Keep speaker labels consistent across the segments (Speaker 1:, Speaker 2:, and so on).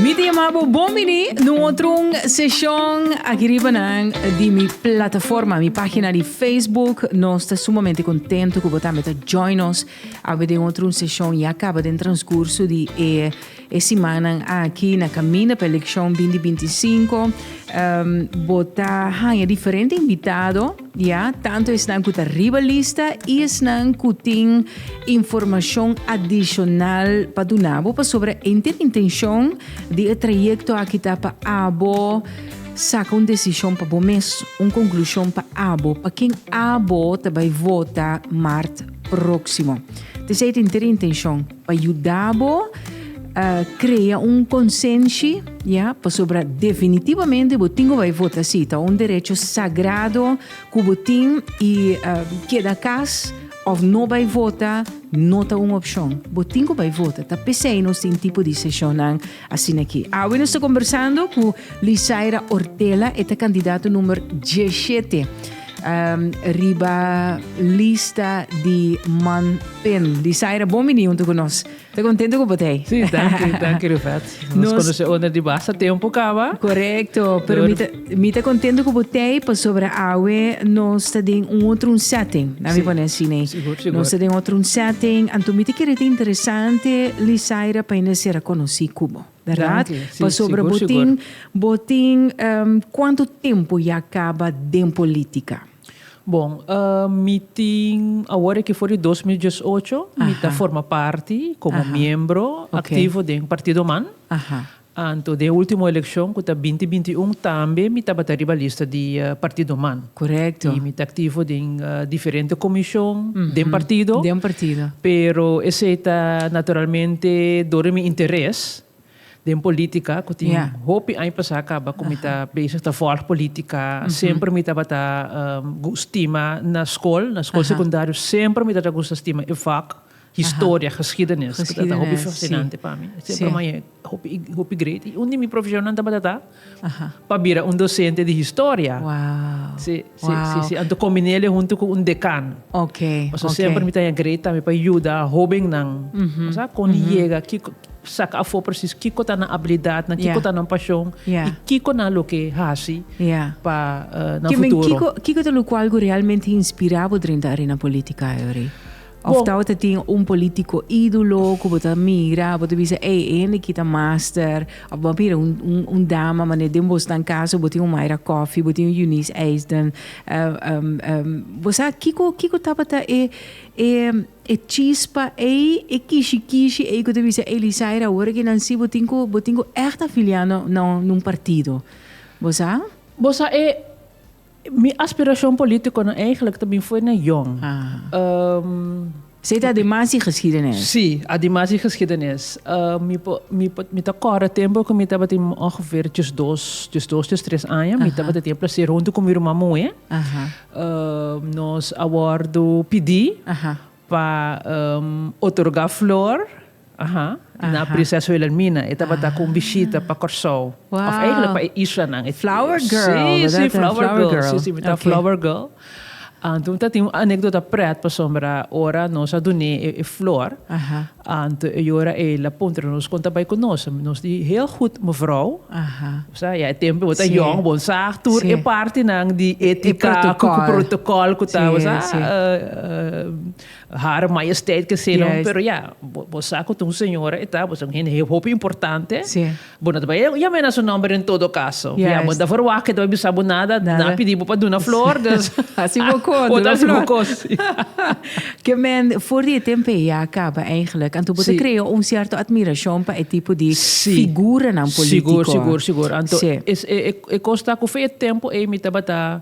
Speaker 1: Mi ta yama bo bon bini na un otro un seshon aki riba nan di mi plataforma, mi página di Facebook. Nos ta sumamente kontento ku bo tambe ta join nos. Awe den otro un seshon ya kaba den transkurso di e e simannan aki na kaminda pa elekshon binti binti i sinku bo ta haña diferente invitado ya tantu esnan ku ta riba lista i esnan ku tin informashon adishonal pa duna bo pasobra enter intenshon di e trayekto aki ta pa abo saka un desishon pa bo mes un konklushon pa abo pa ken abo ta bai vota mart próksimo. P'esei tin ter intenshon pa yuda bo krea un konsenshi, ya, pasobra definitivamente bo tin ku bai vota sí. Ta un derecho sagrado ku bo tin i keda kas òf no bai vota no ta un opshon. Bo tin ku bai vota. Ta p'esei nos tin tipo di seshonnan. Asina ki, awe nos ta kombersando ku Lisaira Ortela, e ta kandidato numer dieshete riba lista di Man Pen. Lisaira, bon bini huntu ku nos. Ta kontento ku bo ta ei? Si, danki, danki
Speaker 2: Ruvet. Nos konosé unda di basta tempu kaba. Korekto, pero mi
Speaker 1: ta. Mi ta contento cu bo tei pasobra awe nos ta den un otro un setting. Laat me pone así nee. Sigur, sigur. Nos ta den otro
Speaker 2: un
Speaker 1: setting. Anto mi ta kere ta interesante Lisaira pa hende ser a conocí cu bo. Verdad? Dank je. Sí, Pasobra sigur, bo sigur.
Speaker 2: tin,
Speaker 1: bo tin ehm, cuanto tempo ya caba den politica? Bon,
Speaker 2: ehm, mi tin awor aki for di dos mil diesocho mi ta Aha. forma parti como Aha. miembro Oké. activo den Partido Man. Aha. Anto den e ultimo elekshon ku ta binti binti i un tambe mi tabata riba lista di partidonan. I mi ta
Speaker 1: aktivo den
Speaker 2: diferente komishon den partido.
Speaker 1: Pero esei
Speaker 2: ta naturalmente dor di mi interes den polítika ku tin hopi aña pasá kaba ku mi ta bezig ta vòlg polítika. Semper mi tabata stima na skol, na skol sekundario semper mi tabata gusta stima e vòk. Historia, geschiedenis. Geschiedenis, si. Hopi fascinante pa mi. Si. Siempre mai hopi, hopi great. Y un di mi profesionnan tabata ta pa bira un docente di historia. Wow. Si,
Speaker 1: si, wow. si,
Speaker 2: si. Anto combinele hunto cu un decano. Ok, ok. Pasobra
Speaker 1: siempre mi ta haya
Speaker 2: great tambe pa yuda hobennan. Mm -hmm. Bo sa con di yega, kico, saca afo precies kico ta nan habilidadnan, kico ta nan pasion y kico nan lo ke haci pa nan futuro. Kico ta locual cu
Speaker 1: realmente inspira bo drenta arena politica, Eury? Of ta bo ta tin un politico idulo cu bo ta mira, bo ta bisa ey, e hende ki ta master. Of bo a mira un, un, un dama manera den bo staan caso bo tin un Myra Coffey, bo tin un Eunice Eisden, uh, um, um, bo sa kico, kico tabata e, e, e chispa ey, e kishi kishi ey cu ta bisa ey Lysaira awor aki nan si bo tin cu, bo tin cu echt afilia na, na un partido. Bo sa? Bo sa e. Mi aspiracion politico no eigenlijk ta bin fo'i na young. Ahaa. Esei ta adimas di geschiedenis. Sí, adimas di geschiedenis. Mi por, mi por, mi ta kòrda tempu ku mi tabatin ongeveer djes dos, djes dos, djes tres aña. Mi tabata tin e placer huntu ku mi ruman muhé. Nos a wòrdu pidí pa otorgá flor. Aha, na Prinseso Wilhelmina e tabata ku un bishita pa Kòrsou, òf èiglèk pa e islanan. Flower girl, bèrdad? Flower girl,
Speaker 2: sí, sí, mi ta flower girl. Anto mi ta tin un anèkdota prèt pasobra ora nos a dun'é e flor, anto e yora el a puntra nos kon ta bai ku nos. Nos di heel gut, mevrou. Bo sa, ya e tempu bo ta yòn, bo sa tur e partinan di étika ku protokòl ku ta, bo sa. Hare Majesteit keseno, pero ya, bo sa ku ta un señora e ta, bo ta un hende hopi importante, bo no ta bai a yam'é na su nòmber en todo kaso. Ya, bo no ta verwagt ku e ta bai bisa bo nada, nan a pidi bo pa duna flor, dus
Speaker 1: bo ta hasi bo kos. Ke men for di e tempe ya a kaba eigentlik, anto bo ta krea un sierto atmirashon pa e tipo di figuranan polítiko. Sigur, sigur, sigur. Anto
Speaker 2: e kos ta ku fe e tempu ei mi tabata.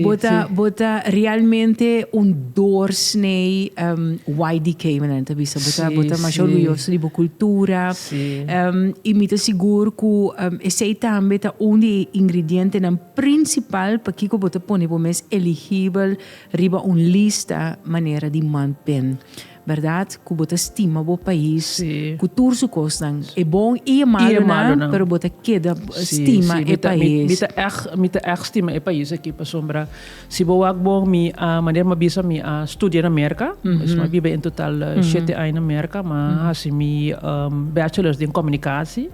Speaker 1: Bo ta
Speaker 2: bo ta realmente
Speaker 1: un doorsnee um YDK menen ta bisa bo ta bo ta masha orguyoso
Speaker 2: di bo cultura
Speaker 1: um
Speaker 2: y mi ta
Speaker 1: sigur cu um esey tambe ta un di e ingredientenan principal pakico bo ta pone bo mes eligibel riba un lista manera di manpen. Berdad cu bo ta stima bo pais cu tur su
Speaker 2: cosnan,
Speaker 1: e bon y e malunan, pero bo ta
Speaker 2: keda
Speaker 1: stima e pais. Mi ta echt
Speaker 2: stima e pais aki pasobra si bo wak bon mi a, manera mi a bisa mi a studia na Merca, dus mi a biba en total shete aña na Merca, mi a hasi mi bachelors den comunicatie.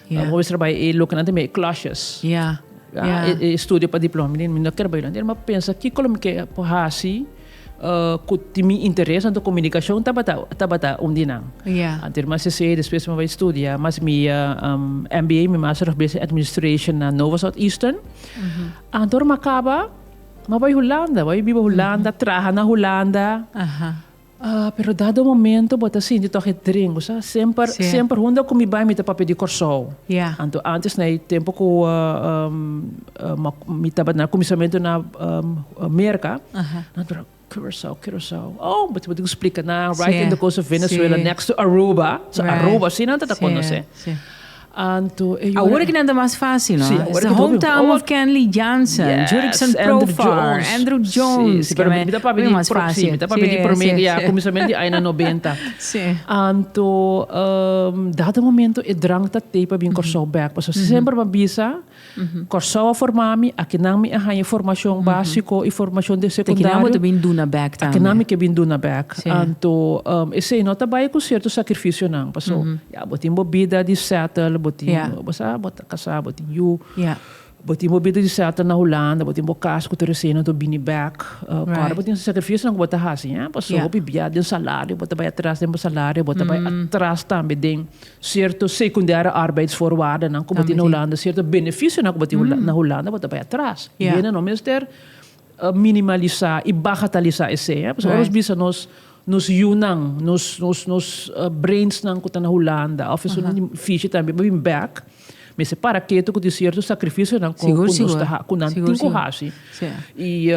Speaker 2: Mi no bisa bai
Speaker 1: e loke nan
Speaker 2: ta mi e clashes.
Speaker 1: E studio
Speaker 2: pa diploma mi no ker bai lo anter. Mi a pensa kiko lo mi ke por hasi ku tin mi interes anto komunikashon tabata tabata un di nan. Antes mi a
Speaker 1: CC despues
Speaker 2: mi a bai studia mas mi a MBA mi master of business administration na Nova Southeastern. Anto ora mi a kaba mi a bai Hulanda, mi a bai biba Hulanda, traha na Hulanda. Ah, pero dado momento bo ta sinti tòg e dren, bo sa. Semper, semper hunde ku mi bai mi ta papia di Kòrsou. Anto ántes
Speaker 1: na e
Speaker 2: tempu ku mi tabata na kuminsamentu na Merka, nan tabata Curaçao, Curaçao. Oh, bo tin ku splika nan, right in the coast of Venezuela, next to Aruba. So Aruba si nan ta ta konosé. Awor aki nan ta
Speaker 1: mas fásil, no? Es ta Home Town
Speaker 2: of
Speaker 1: Kenley Jansen, Jurickson Profar, Andrew Jones, ke mi ta papia di
Speaker 2: mas fásil. Mi ta papia di
Speaker 1: promé ke
Speaker 2: ya kuminsamentu di aña nobenta. Anto dat e momento e drank ta tei pa bin Kòrsou bèk, pasobra semper mi a bisa Kòrsou a formá mi, akinan mi a haña formashon básiko i formashon di sekundario. Te kinan bo ta bin duna bèk
Speaker 1: tambe. Akinan mi ke bin duna
Speaker 2: bèk. Sí. Anto, esei no ta bai ku sierto sakrifisionan, paso ya bo tin bo bida di sètel, bo tin, Ya. bo sa, bo ta kasá, bo tin yu, Ya. bo tin bo bida di sètel na Hulanda, bo tin bo kas ku Teresina, anto bini bèk. Right. Kòrda bo tin sakrifisionan ku bo ta hasi, paso Ya. hopi biaha den salario, bo ta bai atras den bo salario, bo ta bai atras tambe den Cierto secundaire arbeidsvoorwaardennan cu bo tin na Hulanda, cierto beneficionan cu bo tin na Hulanda, bo ta bay atras. Y hende no mester minimaliza y bagataliza esey. Pasobra nos bisa nos nos yunan, nos nos nos brainsnan cu ta na Hulanda of esun nan di Fiji tambe bo bin back, mester para ketu cu tin cierto sacrificionan cu nos ta cu nan tin cu haci. Y.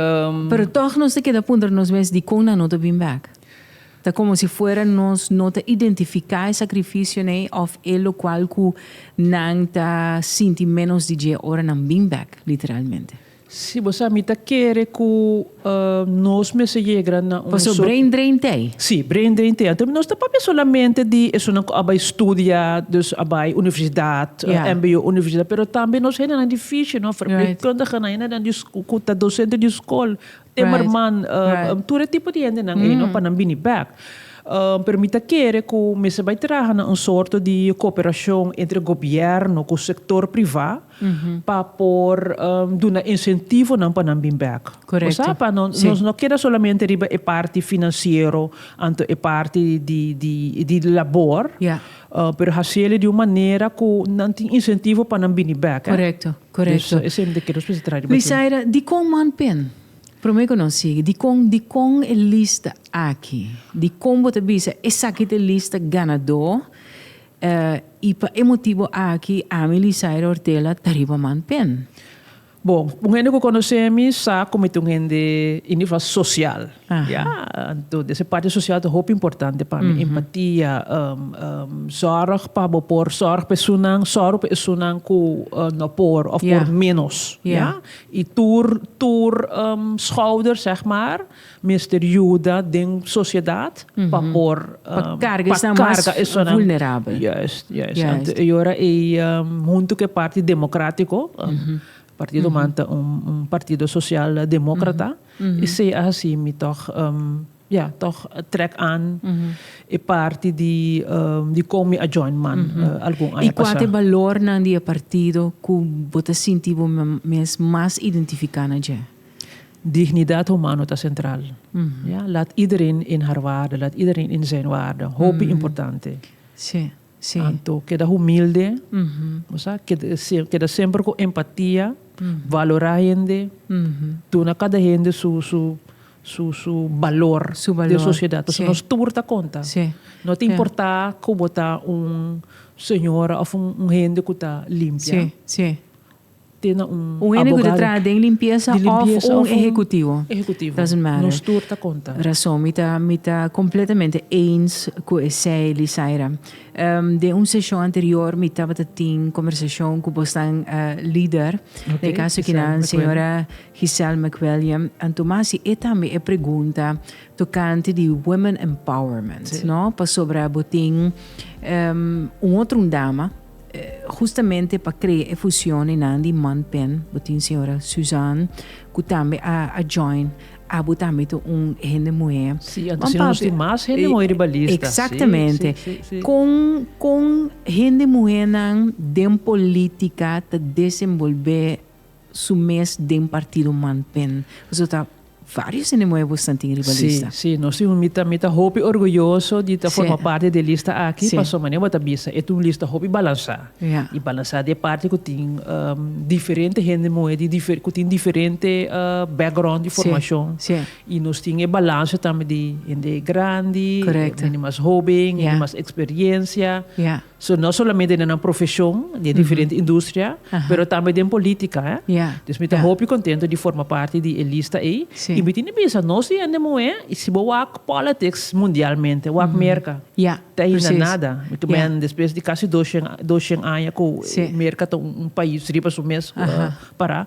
Speaker 2: Pero toch
Speaker 1: nos ta keda puntra nos mes dicunnan no ta bin back? Ta komo si fuera nos no ta identifiká e sakrifisionan òf e lokual ku nan ta sinti ménos di dje ora nan bin bèk, literalmente. Si bo sa,
Speaker 2: mi ta kere ku nos mester yegra na un sort. Pasobra Indrein t'ei?
Speaker 1: Sí, bra Indrein t'ei.
Speaker 2: Anto nos ta papia solamente di esunnan ku a bai studia, dus a bai universidat, mbo, universidat, pero tambe nos hendenan di fishi, nos verpleegkundigenan, hendenan ku ta dosente di skol. Timmerman, tur e tipo di hendenan ei no, pa nan bini bek. Pero mi ta kere ku mester bai traha na un sorto di kooperashon entre gobièrnu ku sektor privá pa por duna insentivonan pa nan bin bek. Bo sa, pa nos
Speaker 1: no keda
Speaker 2: solamente riba e parti finansiero anto e parti di labor, pero hasiel e di un manera ku nan tin insentivo pa nan bini bek.
Speaker 1: Korekto.
Speaker 2: Misaira, dikon
Speaker 1: man pen? Promé ku nos sigui, dikon dikon e lista aki? Dikon bo ta bisa esaki ta e lista ganadó i pa e motibu aki ami Lisaira Ortella ta riba man pen? Bon,
Speaker 2: un hende ku konosé mi sa ku mi ta un hende, i nivel sosial, Ya, anto des e parti sosial ta hopi importante pa mi. Empatia, zorg pa bo por zorg pa esunnan, zorg pa esunnan ku no por òf por ménos. Ya, i tur tur schouder zeg maar mester yuda den sosiedat pa por pa karga esunnan
Speaker 1: mas. Juist,
Speaker 2: juist. Anto e ora ei
Speaker 1: huntu
Speaker 2: ku e parti demokratiko Partido man ta un partido sosial demókrata i sea hasi mi tòg ya tòg trèk an e parti di kon mi a join man algun aña pasá. I kua ta e balornan
Speaker 1: di e partido ku bo ta sinti bo mes mas identifiká na dje? Dignidat
Speaker 2: humano ta sentral. Ya, lat iedereen in haar waarde, laat iedereen in zijn waarde. Hopi importante. Sí.
Speaker 1: Anto keda humilde,
Speaker 2: bo sa, keda semper ku empatia, valorá hende, duna kada hende su su balor den sosiedat. Pasobra nos tur ta konta. No ta
Speaker 1: importá
Speaker 2: ku bo ta un señora òf un hende ku ta limpia Un hende ku ta
Speaker 1: traha den limpiesa òf un ehekutivo, doesn't
Speaker 2: matter. Rason, mi
Speaker 1: ta kompletamente eins ku esei, Lisaira. Den un seshon anterior mi tabata tin kombersashon ku bosnan lider, na e kaso aki nan señora Giselle McWilliam, anto mas si e tambe e pregunta tokante di women empowerment, no? Pasobra bo tin un otro un dama. Hustamente pa krea e fusionnan di Manpen bo tin señora Suzan ku tambe a a join abo tambe ta un hende muhé. Si, anto asina nos tin
Speaker 2: mas hende muhé riba lista. Eksaktamente. Si,
Speaker 1: si, si, si. Kon
Speaker 2: kon
Speaker 1: hende muhénan den polítika ta desenbolbé su mes den partido man pen pasobra ta varios hende nuevo esnan tin riba lista. Si, si, nos tin, mi ta
Speaker 2: mi ta hopi orguyoso di ta forma parti di e lista aki pasobra manera bo ta bisa e ta un lista hopi balansa i balansa di e parti ku tin diferente hende muhé di dife ku tin diferente background di formashon i nos tin e balansa tambe di hende grandi hende mas hoben hende mas eksperiencia. So no solamente den nan profesion, den diferente industria, pero tambe den politica. Dus mi ta hopi contento di forma parti di e lista ey. Y mi tin bisa nos di hende muhe, si bo wak politics mundialmente, wak Merca, ta hinda nada. Mi ta meen despues di casi dos shen, dos shen aña cu Merca ta un pais riba su mes para.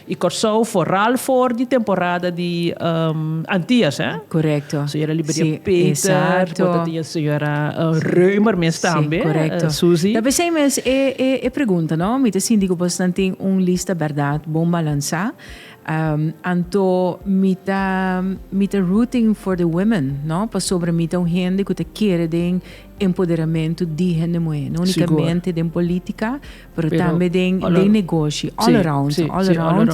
Speaker 2: Y Corsou foral for di temporada di Antillas, eh? Correcto.
Speaker 1: Señora Liberia Sí,
Speaker 2: Peter, cu exacto. esta tin e señora Reumer mes tambe, Sí, correcto. Susie. Ta p'esei mes e,
Speaker 1: e, e pregunta, no? Mi ta sinti cu pues nan tin un lista berdad bon balansa. Um, anto mi ta, mi ta rooting for the women, no? Pasobra mi ta un hende cu ta kere den empoderamento di hende muher. No unicamente den politica, Pero tambe den den negoshi all around all around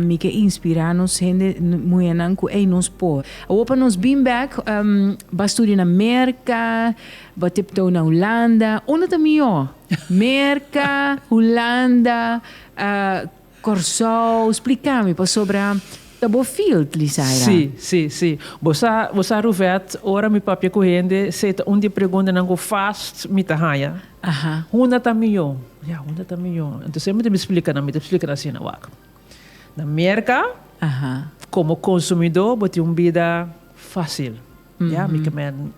Speaker 1: mi ke inspira nos hende muhernan ku ey nos por awor pa nos bin bek ba studia na merka ba tiptoe na hulanda unda ta mihor merka hulanda Kòrsou, splika mi pasobra ta bo field, Lizaira. Sí, sí, sí. Bo
Speaker 2: sa, bo sa Ruvet, ora mi papia ku hende, se ta un di e preguntanan ku fast mi ta haña. Aha. Hunda ta mihó? Ya, hunda ta mihó. Anto sempri mi ta bin splika nan, mi ta splika nan asina, wak. Na Merka, Aha. komo konsumidó bo tin un bida fásil. Ya, mi kemen,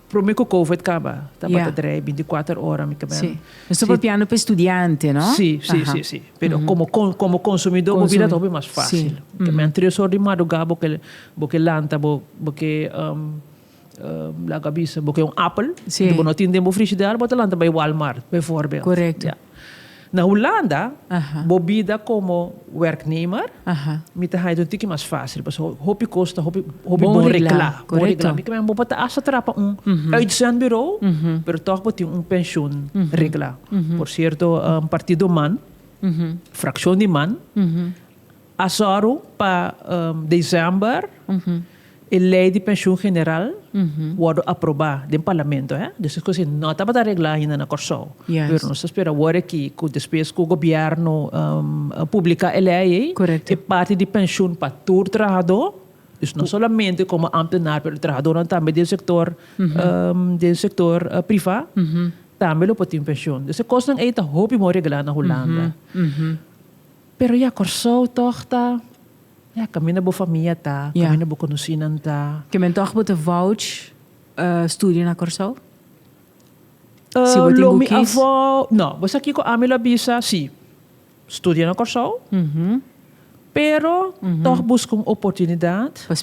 Speaker 2: prome ku covid kaba, tabata drei bintikwatro ora, mi kemen. Si. No sta
Speaker 1: papiando pa e studiante, no? Si, si, si, si.
Speaker 2: Pero komo kon, komo konsumidó bo bira ta hopi mas fásil. Mi kemen, tres or di madrugá bo ke, bo ke lanta, bo, bo ke laga bisa, bo ke un apel, bo no tin den bo frishider, bo ta lanta bai Walmart, befòrbèld. Korekto.
Speaker 1: Na
Speaker 2: Hulanda, bo bida komo wèrknemer, mi ta haña tur tiki mas fásil, pasobra hopi kos ta hopi bon reglá. Bon reglá. Mi kamba bo por
Speaker 1: ta asta
Speaker 2: traba pa un uitzendbureau, pero tòg bo tin un penshun reglá. Por sierto, un partido man, frakshon di man, A sòru pa desèmber e lei di penshun general wòrdu aprobá den parlamento. Dus es kos ei no tabata reglá ainda na Kòrsou. Pero nos ta spera awor aki ku despues ku gobièrnu publiká e lei ei, e parti di penshun pa tur trahadó, dus no solamente komo ámtenar pero trahadónan tambe den sektor den sektor privá tambe lo por tin penshun. Dus e kosnan ei ta hopi bon reglá na Hulanda. Pero ya Kòrsou tòg ta, ya kaminda bo famia ta, kaminda bo
Speaker 1: konosinan
Speaker 2: ta. Ke men
Speaker 1: tòg bo ta
Speaker 2: vouch studia
Speaker 1: na Kòrsou? Si bo tin ku
Speaker 2: kis. No,
Speaker 1: bo sa
Speaker 2: kiko ami lo a bisa? Si, studia na Kòrsou, pero tòg buska un oportunidat pa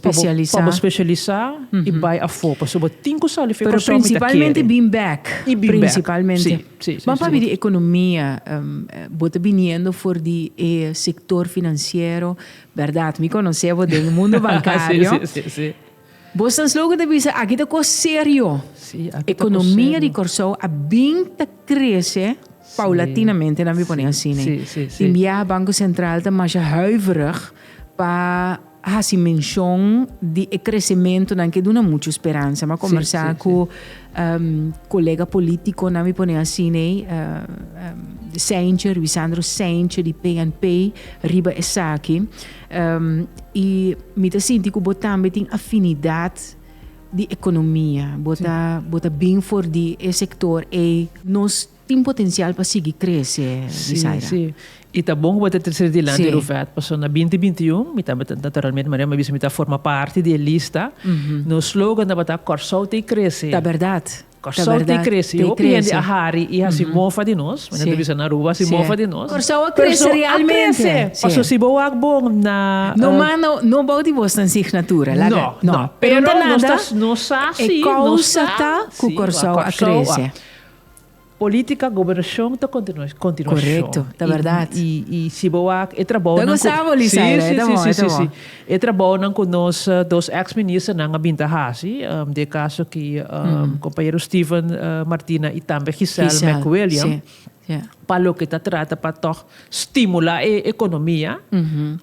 Speaker 2: bo
Speaker 1: spesialisá
Speaker 2: i bai afó, pasobra bo tin ku sali fu Kòrsou, mi ta kere. Pero prinsipalmente
Speaker 1: bin bèk. I bin bèk,
Speaker 2: si.
Speaker 1: Ban pabi
Speaker 2: di economia,
Speaker 1: bo ta biniendo for di e sector financiero, berdad? Mi conocebo den mundo bancario.
Speaker 2: Bo sans loco
Speaker 1: ta bisa aki ta cos serio.
Speaker 2: Economia di Corsou
Speaker 1: a bin ta crece paulatinamente, nan mi pone asina. Y mia
Speaker 2: Banco
Speaker 1: Central ta masha huiverig pa. a hasi menshon di e kresementunan ke duna muchu speransa. Mi a kombersá ku kolega polítikonan, mi pone asina, Seinche, Ruisandro Seinche di PNP, riba esaki. I mi ta sinti ku bo tambe tin afinidat di ekonomia. Bo ta bo ta bin for di e sektor ei. Nos Tin potencial pa sigui crece, Isaira. Sí,
Speaker 2: sí. I ta bon cu bo ta tracer dilanti e Ruvet, pasobra na binti binti y un mi tabata, naturalmente Maria mi a bisa mi ta forma parti di e lista, nos slogan tabata Kòrsou t'ei krese. Ta berdad, ta
Speaker 1: berdad. Kòrsou t'ei krese.
Speaker 2: T'ei krese. Hopi hende a hari i hasi mofa di nos, mi ta bisa na Aruba hasi mofa di nos. Kòrsou a krese
Speaker 1: realmente. Kòrsou a krese. Paso si bo wak
Speaker 2: bon na. No mas no, no bou
Speaker 1: di bo sta en signatura, laga. No, no. Pero
Speaker 2: nos ta, nos sa si, nos sa. E
Speaker 1: causa
Speaker 2: ta
Speaker 1: cu Kòrsou a krese.
Speaker 2: Politica, gobernacion ta continuacion. Correcto, ta
Speaker 1: berdad. Y, y, y si bo wak
Speaker 2: e trabounan. Ta gosa bo Lisaira,
Speaker 1: e ta bon, e ta bon. Sí, sí, sí, sí, sí.
Speaker 2: E trabounan cu nos dos ex ministernan a bin ta haci, den e caso aki compañero Steven Martina y tambe Giselle Mc William, pa loke ta trata pa tog. Stimula e economia,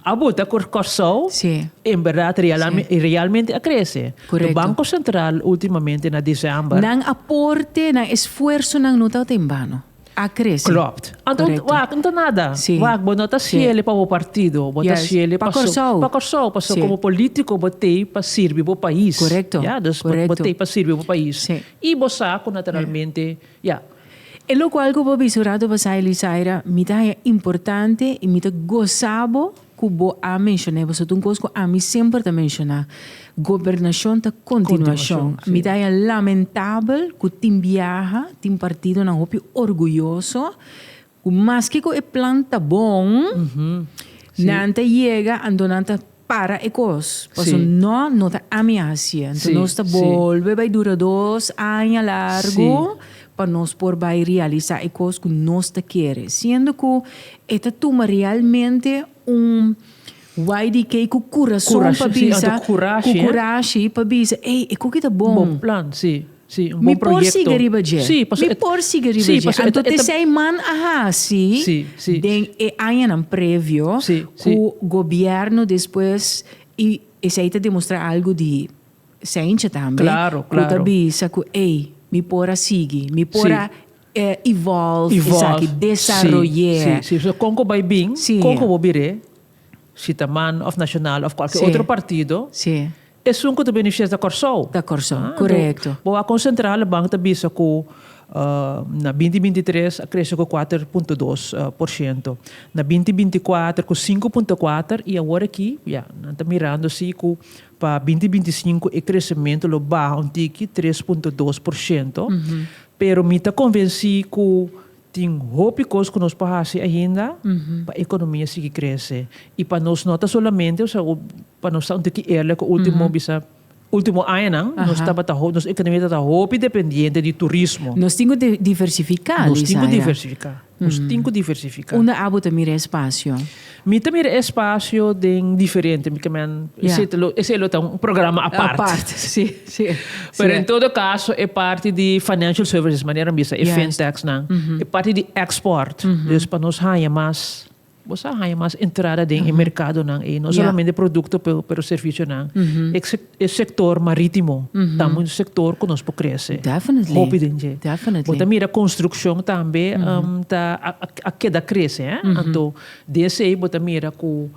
Speaker 2: a buta cu Corsou en berdad realmente a crece. Cu Banco Central ultimamente na december. Nan aporte,
Speaker 1: nan esfuersonan no tabata en bano. A crece. Klopt. Anto
Speaker 2: wak no ta nada. Wak bo no ta ciele pa bo partido. Bo ta ciele pa Corsou. Pa Corsou. Pasobra como politico bo t'ey pa sirbi bo pais. Ya. Dus
Speaker 1: bo t'ey pa
Speaker 2: sirbi bo pais. Y bo sa cu naturalmente, ya.
Speaker 1: E lokual ku bo bisurá do pasá Elisaira, mi ta haña importante i mi ta gosá bo ku bo a menshon'é. Boso ta un kos ku ami semper ta menshoná, Gobernashon ta kontinuashon. Mi ta haña lamentabel ku tin biaha tin partidonan hopi orguyoso. Cu maske cu e plan ta bon, nan ta yega anto nan ta para e cos. Paso Sí. no, no ta ami a hacié. Anto Sí, nos ta sí. bolbe bay dura dos aña largo Sí. pa nos por bay realisa e cos cu nos ta kere. Siendo cu e ta tuma realmente Un wai di kei ku kurason pa bisa, ku kurashi pa bisa, ei, e koki ta bon.
Speaker 2: Mi por sigui riba dje. Mi
Speaker 1: por sigui riba dje. Anto tezei man a hasi den e añanan previo ku gobièrnu despues i esei ta demostrá algu di seincha tambe ku ta bisa
Speaker 2: ku
Speaker 1: ei, mi por a sigui, mi por a. Evolve, esaki, desaroy'é. Sí, sí. Kon ku
Speaker 2: bai bin, kon ku bo bir'é, si ta man of Nacional of kualke otro partido, esun
Speaker 1: ku ta beneficiario
Speaker 2: ta Kòrsou. Ta Kòrsou, korekto.
Speaker 1: Bo a konsentrá,
Speaker 2: Rebank ta bisa ku na binti binti i tres a krese ku kuater punto dos por shento, na binti binti i kuater ku sinku punto kuater i awor aki, ya, nan ta mirando si ku Pa binti binti sinku e kresementu lo baha un tiki, tres punto dos por shento, pero mi ta konvensí ku tin hopi kos ku nos por hasi ainda pa ekonomia sigui krese. I pa nos no ta solamente, osea, pa nos ta un tiki eerlek, e último bisa, último añanan nos tabata, nos ekonomia tabata hopi dependiente di turismo. Nos tin ku
Speaker 1: diversifiká, Lisa. Nos tin ku diversifiká.
Speaker 2: Nos tin ku diversifiká. Unda abu ta mira e
Speaker 1: spasio? Mi ta mira e
Speaker 2: spasio den diferente, mi kamen esei lo ta un programa apart. Apart, si, si.
Speaker 1: Pero en
Speaker 2: todo kaso e parti di financial services, manera nan bisa, e fintechnan, e parti di export, dus pa nos haña mas. Bo sa haña mas entrada den e merkadonan ei, no solamente produkto pero servisionan. E sektor marítimo ta un sektor ku nos por krese hopi den dje.
Speaker 1: Bo ta mira
Speaker 2: konstrukshon tambe ta a keda krese. Anto di esei bo ta mira ku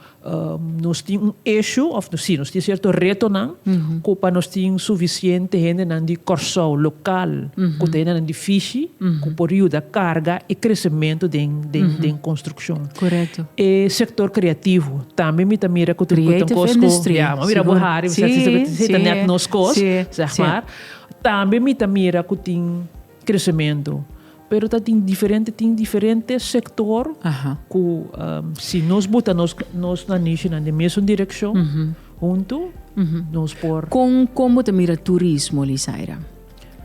Speaker 2: nos tin un ishu òf si nos tin sierto retonan ku pa nos tin sufisiente hendenan di Kòrsou lokal ku ta hendenan di fishi ku por yuda karga e kresementu den den konstrukshon. E
Speaker 1: sektor
Speaker 2: kreativo tambe mi ta mira ku ta un kos ku ya
Speaker 1: bo a mira bo hari
Speaker 2: bisat si ta nèt nos kos tambe mi ta mira ku tin. Kresementu. Pero ta tin diferente, tin diferente sektor ku si nos buta nos nos nan nishinan den mesun direkshon huntu nos por. Kon kon bo ta mira
Speaker 1: turismo Lizaira?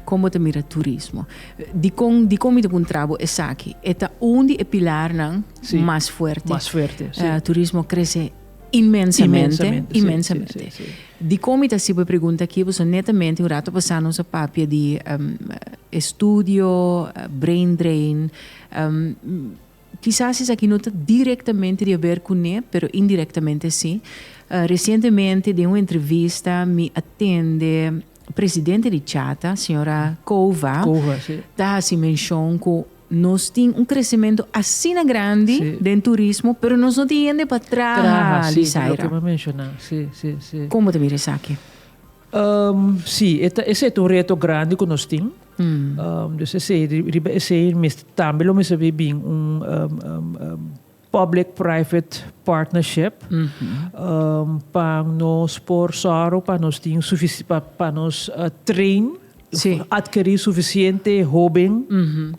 Speaker 1: Kon bo ta mira turismo? Dikon dikon mi ta puntra bo esaki? E ta un di e pilarnan mas fuerte. Mas fuerte, si.
Speaker 2: Turismo krese.
Speaker 1: Inmensamente, inmensamente.
Speaker 2: Dikon mi ta
Speaker 1: si bo e pregunta aki? Pasobra netamente un rato pasá nos a papia di e studio brain drain. Kisas esaki no ta direktamente di haber kuné, pero indirektamente sí. Resientemente den un entrevista mi a tende presidente di Chata, señora Cova, ta hasi menshon ku Nos tin un crecemento asina grandi den turismo, pero nos no tin hende pa traha, Lizaira. Con
Speaker 2: bo ta mira
Speaker 1: esaki?
Speaker 2: Si, esey ta un reto grandi cu nos tin. Riba esey tambe lo mester bay bin un. public-private partnership, pa nos por sòru pa nos tin pa nos train, adkerí sufisiente hóben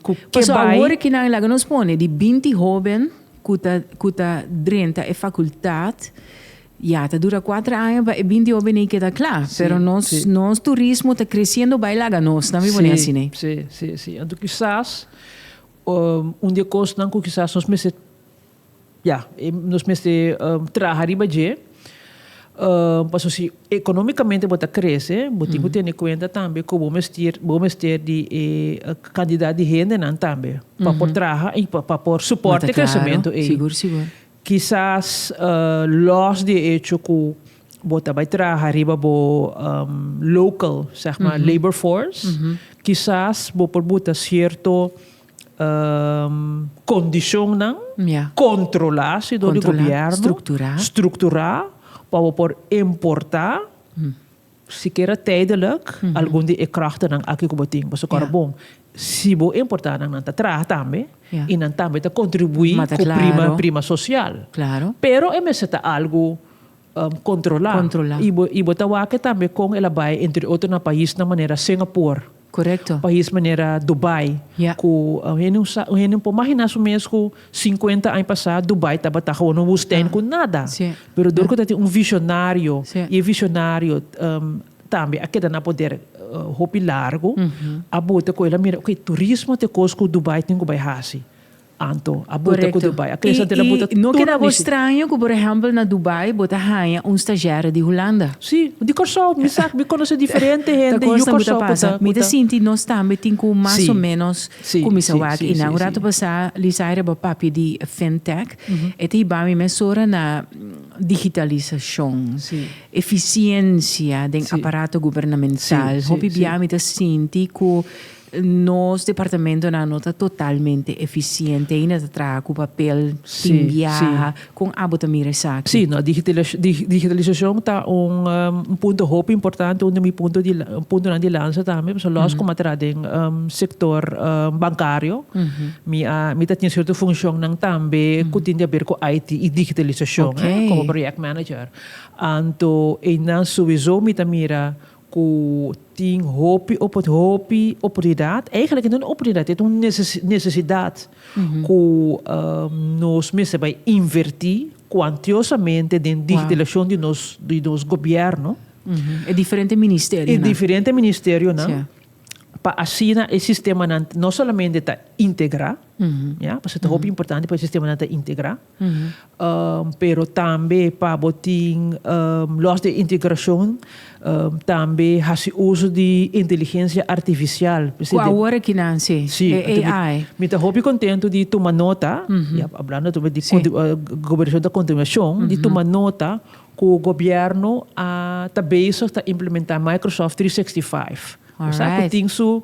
Speaker 2: ku ke bai.
Speaker 1: Paso awor e kinan laga nos pone di binti hóben ku ta ku ta drenta e fakultat, ya ta dura kuater aña pa e binti hóben ei keda kla, pero nos nos turismo ta kresiendo bai laga nos tambe pone asina. Si si si si anto
Speaker 2: kisas. Un di e kosnan ku kisas nos mester ya, nos mester traha riba dje, paso si ekonomikamente bo ta krese, bo tin ku tene kuenta tambe ku bo mester, bo mester di e kantidat di hendenan tambe pa por traha i pa por suport e kresementu ei.
Speaker 1: Kisas
Speaker 2: los di e echo ku bo ta bai traha riba bo local seg ma labor force, kisas bo por buta sierto kondishonnan kontrolá sidor di gobièrnu, strukturá pa bo por importá. Sikiera tijdelijk, algun di e krachtenan aki cu bo tin, boso cora bon, si bo importa nan, nan ta traha tambe y nan tambe ta contribui cu prima, prima social. Pero e mester ta algo controla y bo ta wak e tambe con el a bay entre otro na paisnan manera Singapore. Correcto. Pais
Speaker 1: manera
Speaker 2: Dubai Ya. cu un hende sa un hende por magina su mes cu cincuenta aña pasa Dubai tabata gewoon un woestijn cu nada Sí. pero dor cu ta tin un visionario Sí. y e visionario um tambe a keda na poder uh hopi largo a bota cu el a mira okay turismo ta e cos cu Dubai tin cu bay haci. Anto a buta ku Dubai. A klesa anto a buta tur mishí. Korekto. I no keda bo straño
Speaker 1: ku por ehèmpel na Dubai bo ta haña un stashièrè di Hulanda. Sí. Di Kòrsou.
Speaker 2: Mi sa, mi konosé diferente hende yu Kòrsou ku ta pasa. Ta kos nan ku ta pasa.
Speaker 1: Mi ta sinti nos tambe tin ku mas o ménos kuminsá wak. I nan un ratu pasá Lisaira a bo papia di FinTech. E ta hiba mi mes ora na digitalisashon, efisiensia den aparato gubernamental. Hopi bia mi ta sinti ku. Nos departamentonan no ta totalmente eficiente, ainda ta traha cu papel tin biaha. Con abo ta mira esaki? Sí, no,
Speaker 2: digitalisacion ta un punto hopi importante, un di mi punto di puntonan di lansa tambe, pasobra los como a traha den sector bancario, mi a, mi ta tin cierto funcionnan tambe cu tin di haber cu IT y digitalisacion, como project manager. Anto, einan souezo mi ta mira cu tin hopi opor, hopi oportunidad, eigenlijk no ta un oportunidad, e ta un necesidad cu nos mester bay inverti cuantiosamente den digitalisacion di nos, di nos gobierno. E diferente
Speaker 1: ministerionan. E diferente
Speaker 2: ministerionan, pa asina e sistemanan no solamente ta integra, ya, pasobra ta hopi importante pa e sistemanan ta integra. pero tambe pa bo tin los di integracion tambe haci uso di inteligencia artificial. Cu awor aki nan
Speaker 1: si, e AI. Mi ta hopi contento
Speaker 2: di tuma nota, hablando tambe di gobernacion ta continuacion, di tuma nota cu gobierno a ta bezig ta implementa Microsoft trescientos zesentacinco. Cu sa cu tin su.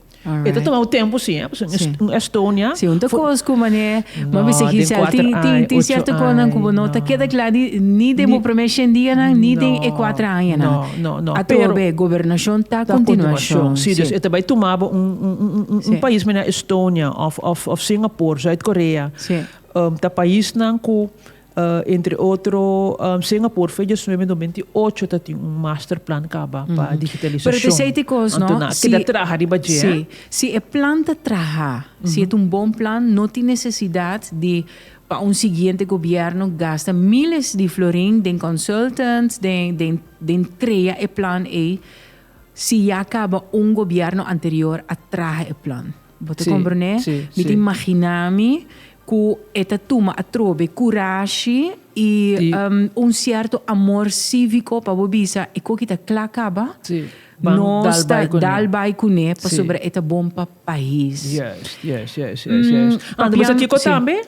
Speaker 1: E ta tuma un tempu si,
Speaker 2: pasobra mi un un Estonia. Si, un ta kos ku
Speaker 1: manera e bo a bisa aki sal.
Speaker 2: Tin
Speaker 1: tin tin
Speaker 2: sierto kosnan ku bo
Speaker 1: no ta
Speaker 2: keda
Speaker 1: kla ni
Speaker 2: ni den
Speaker 1: bo promé shen dianan ni den e kuater añanan. Ato bo e
Speaker 2: gobernashon
Speaker 1: ta kontinuashon.
Speaker 2: Si, dus e
Speaker 1: ta bai tuma
Speaker 2: bo un un un
Speaker 1: pais manera Estonia
Speaker 2: òf òf òf Singapor, Zuid Korea ta
Speaker 1: paisnan
Speaker 2: ku. Entre otro, Singapore fei dies nuebe dor minti ocho ta tin un master plan kaba pa digitalisashon. Pero t'esei t'e kos, no?
Speaker 1: Anto nan keda traha riba
Speaker 2: dje. Sí. Si e plan
Speaker 1: ta traha, si e ta un bon plan, no tin nesesidat di pa un siguiente gobièrnu gasta míles di florin den consultants, den, den, den krea e plan ei, si ya kaba un gobièrnu anterior a traha e plan. Bo ta komprendé?
Speaker 2: Mi ta
Speaker 1: imaginá mi ku e ta tuma atrobe, kurashi i un sierto amor síviko pa bo bisa e koki ta kla kaba,
Speaker 2: nos ta
Speaker 1: dal bai kuné pasobra e ta bon pa pais. Juist, juist, juist,
Speaker 2: juist. Anto
Speaker 1: bo sa kiko tambe?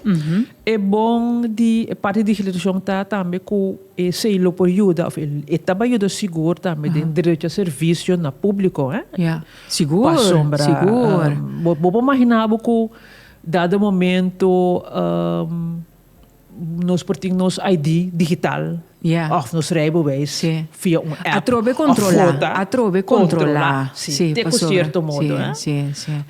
Speaker 1: E
Speaker 2: bon di e parti di digitalisashon ta tambe ku e sei lo por yuda òf e tabata yuda sigur tambe den derecho a servisio na públiko.
Speaker 1: Sigur, sigur.
Speaker 2: Bo
Speaker 1: por mahiná bo
Speaker 2: ku dado momento nos por tin nos ID digital òf nos
Speaker 1: reibeweis
Speaker 2: via un
Speaker 1: app. Atrobe
Speaker 2: kontrolá, atrobe kontrolá.
Speaker 1: Sí, te ku sierto
Speaker 2: modo.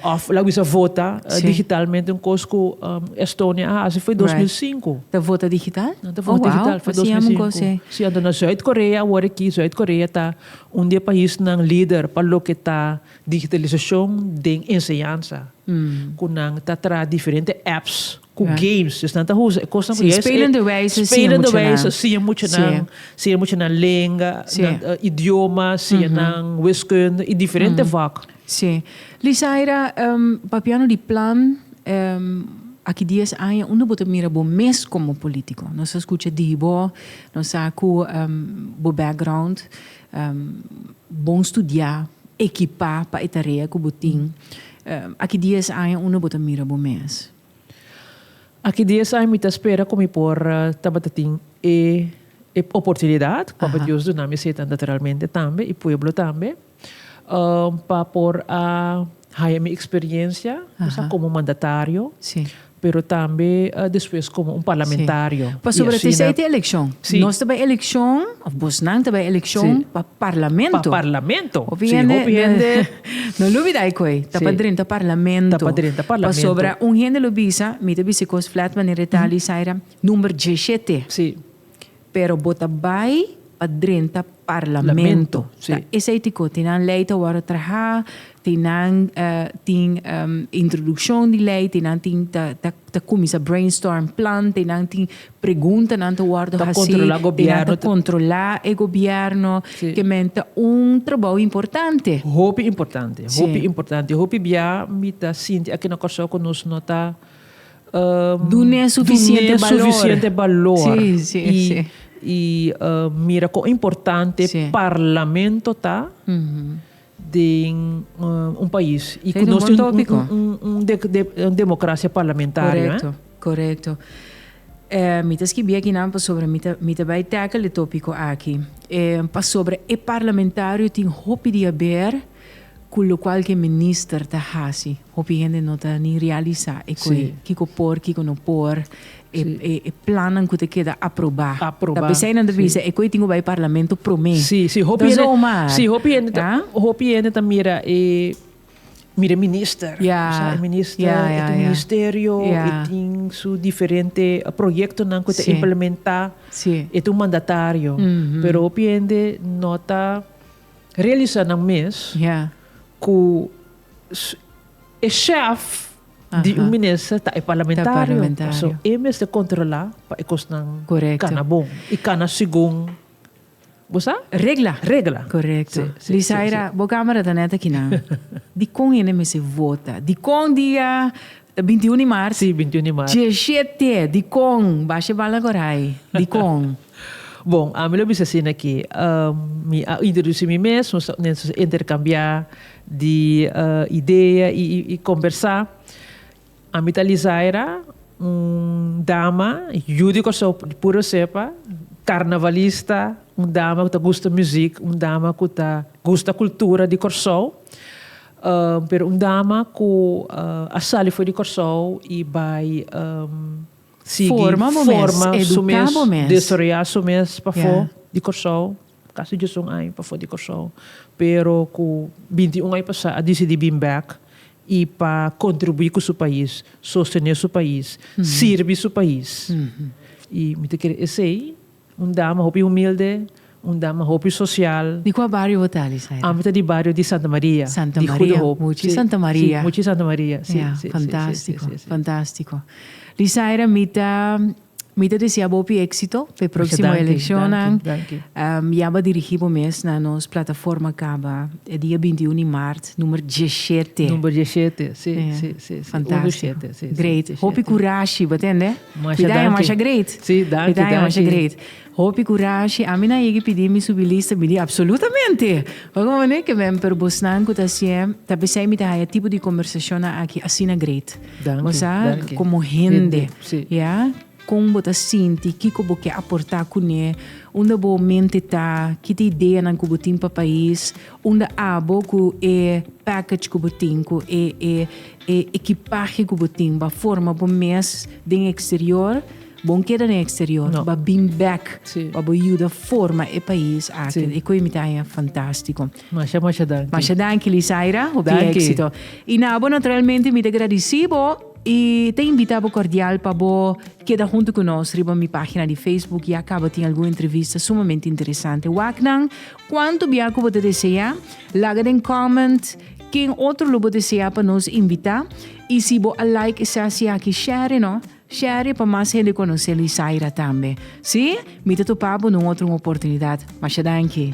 Speaker 2: Òf
Speaker 1: la wisa
Speaker 2: vota digitalmente, un
Speaker 1: kos ku
Speaker 2: Estonia a hasi foi dos mil sinku. Ta vota digital?
Speaker 1: Ta vota digital foi
Speaker 2: dos mil sinku. Sí, anto na Zuid-Korea awor aki, Zuid-Korea ta. Un di e paisnan lider pa loke ta digitalisashon den enseñansa, ku nan ta traha diferente apps ku games. Esnan ta usa e kosnan ku ya es e. Spelende wijze siña
Speaker 1: muchanan. Spelende wijze
Speaker 2: siña
Speaker 1: muchanan.
Speaker 2: Siña muchanan lenga, idiomanan, siña nan wiskunde i diferente vak. Sí.
Speaker 1: Lisaira, papiando di plan, aki dies aña unda bo ta mira bo mes komo polítiko? Nos a skucha di bo, nos sa ku bo background, bon studiá, ekipá pa e tarea ku bo tin. Aki dies aña unda bo ta mira bo mes?
Speaker 2: Aki dies aña mi ta spera ku mi por tabata tin e oportunidat, Papa Dios duna mi ese tanta realmente tambe i pueblo tambe. pa por a haya mi experiencia bisa como mandatario pero
Speaker 1: tambe
Speaker 2: despues como un parlamentario. Pasobra tisei tin
Speaker 1: eleccion. Nos ta bay
Speaker 2: eleccion
Speaker 1: of bosnan ta bay eleccion pa parlamento. Pa parlamento.
Speaker 2: Hopi hende
Speaker 1: no lo bida ecu ey ta pa drenta parlamento. Ta pa drenta parlamento.
Speaker 2: Pasobra un hende lo
Speaker 1: bisa mi ta bisa cos flat manera e ta Alisaira number diecisiete.
Speaker 2: Pero bo
Speaker 1: ta bai pa drenta parlamento. Ta esei tiko
Speaker 2: tin nan
Speaker 1: lei ta wòrdu trahá, tin nan tin introdukshon di lei, tin nan tin ta kuminsá brainstorm plan, tin nan tin pregunta nan ta wòrdu hasí, tin nan ta
Speaker 2: kontrolá
Speaker 1: e gobièrnu. Kemen ta
Speaker 2: un
Speaker 1: trabou importante. Hopi importante,
Speaker 2: hopi importante.
Speaker 1: Hopi
Speaker 2: bia mi ta sinti aki na Kòrsou ku nos no ta.
Speaker 1: Dun'é sufisiente balor i
Speaker 2: mira kon importante parlamento
Speaker 1: ta
Speaker 2: den un pais i ku nos
Speaker 1: tin un
Speaker 2: demokrasia parlamentario. Korekto.
Speaker 1: Mi ta skibí aki nan pasobra mi ta bai tackle e tópiko aki. Pasobra e parlamentario tin hopi di haber Cu locual cu e minister ta haci, hopi hende no ta ni realisa e cu e, kico por, kico no por, e, e, e plannan cu ta keda aproba. Aproba. Ta p'esey nan ta bisa, e cu ei tin cu bai Parlamento prome. Si, si, hopi hende. Entonces,
Speaker 2: Omar. Si, hopi hende ta, hopi hende ta mira e, mira e minister. Ya. Bo sa, e minister, Ya, ya, ya. e tin ministerio, Ya. e tin su diferente proyectonan cu e ta Si. implementa, Si. e ta un mandatario. Pero hopi hende no ta. realisá nan mes ku e shèf di un minister ta e parlamentario. Pasobra e mester kontrolá pa e kosnan kana bon i kana segun, bo sa? Regla.
Speaker 1: Regla. Korekto. Lisaira, bo kámara ta nèt aki nan. Dikon hende mester vota? Dikon dia binti un di mart? Si, binti un di mart. Djeshé
Speaker 2: tè, dikon?
Speaker 1: Basha e bal na Kòrhai. Dikon? Bon, ami
Speaker 2: lo bisa asina ki, mi a introduci mi mes, nos ta mester intercambia di idea y combersa. Ami ta Lizaira, un dama yu di Kòrsou, di pura sepa, carnavalista, un dama cu ta gusta muziek, un dama cu ta gusta cultura di Kòrsou, pero un dama cu a sali for di Kòrsou y bai.
Speaker 1: sigui forma su mes, desaroyá su mes
Speaker 2: pafó di Kòrsou, kasi djes un aña pafó di Kòrsou, pero ku binti i un aña pasá a disidí bin bèk i pa kontribuí ku su pais, sostené su pais, sirbi su pais. I mi ta kere esei Un dama hopi humilde, un dama hopi sosial. Di kua bario bo ta
Speaker 1: Lisaira? Ami ta di bario di Santa
Speaker 2: Maria. Santa Maria, muchi Santa
Speaker 1: Maria.
Speaker 2: Si,
Speaker 1: muchi Santa Maria, si,
Speaker 2: si, si. Fantastico,
Speaker 1: fantastico. Lisaira, mi ta, mi ta desia bo hopi exito pa e proximo eleccionnan. Mucha danki,
Speaker 2: danki,
Speaker 1: danki.
Speaker 2: Ya bo dirigi
Speaker 1: bo mes na nos plataforma caba e dia binti un di maart, numer djeshete. Numer djeshete, si,
Speaker 2: si, si, si. Fantastico.
Speaker 1: Uno
Speaker 2: shete, si, si, djeshete.
Speaker 1: Great.
Speaker 2: Hopi curashi,
Speaker 1: bo
Speaker 2: tende?
Speaker 1: Cuida e masha
Speaker 2: great.
Speaker 1: Si
Speaker 2: danki
Speaker 1: danki. Cuida e masha
Speaker 2: great.
Speaker 1: Hopi curashi. Ami na yegi pidi mi subilista mi di absolutamente. Oca bo ne kemen pero bosnan cu ta asie ta pesey mi ta haya tipo di conversacionnan aki asina great. Danki Bo sa danki.
Speaker 2: como hende
Speaker 1: Hende si. ya
Speaker 2: con bo
Speaker 1: ta sinti kico bo ke aporta cune unda bo mente ta ki ta ideanan cu bo tin pa pais unda abo cu e package cu bo tin cu e e E ekipahe ku bo tin ba forma bo mes den eksterior, bon keda den eksterior, ba bin bèk pa bo yuda
Speaker 2: forma
Speaker 1: e pais aki. E koimitahe
Speaker 2: a
Speaker 1: fantástiko. Masha masha danki.
Speaker 2: Masha danki Lisaira,
Speaker 1: hopi éksito. I
Speaker 2: na bo
Speaker 1: naturalmente mi ta gradisí bo i ta invitá bo kordial pa bo keda huntu ku nos riba mi página di Facebook. Ya kaba tin algun entrevista sumamente interesante. Wak nan Cuanto bia cu bo ta desea? Laga den comment ken otro lo bo desea pa nos invita y si bo a like esa hacia aki share no, share pa mas hende conoce Luisaira tambe. Si? Mi ta topa bo nun otro un oportunidad. Masha danki.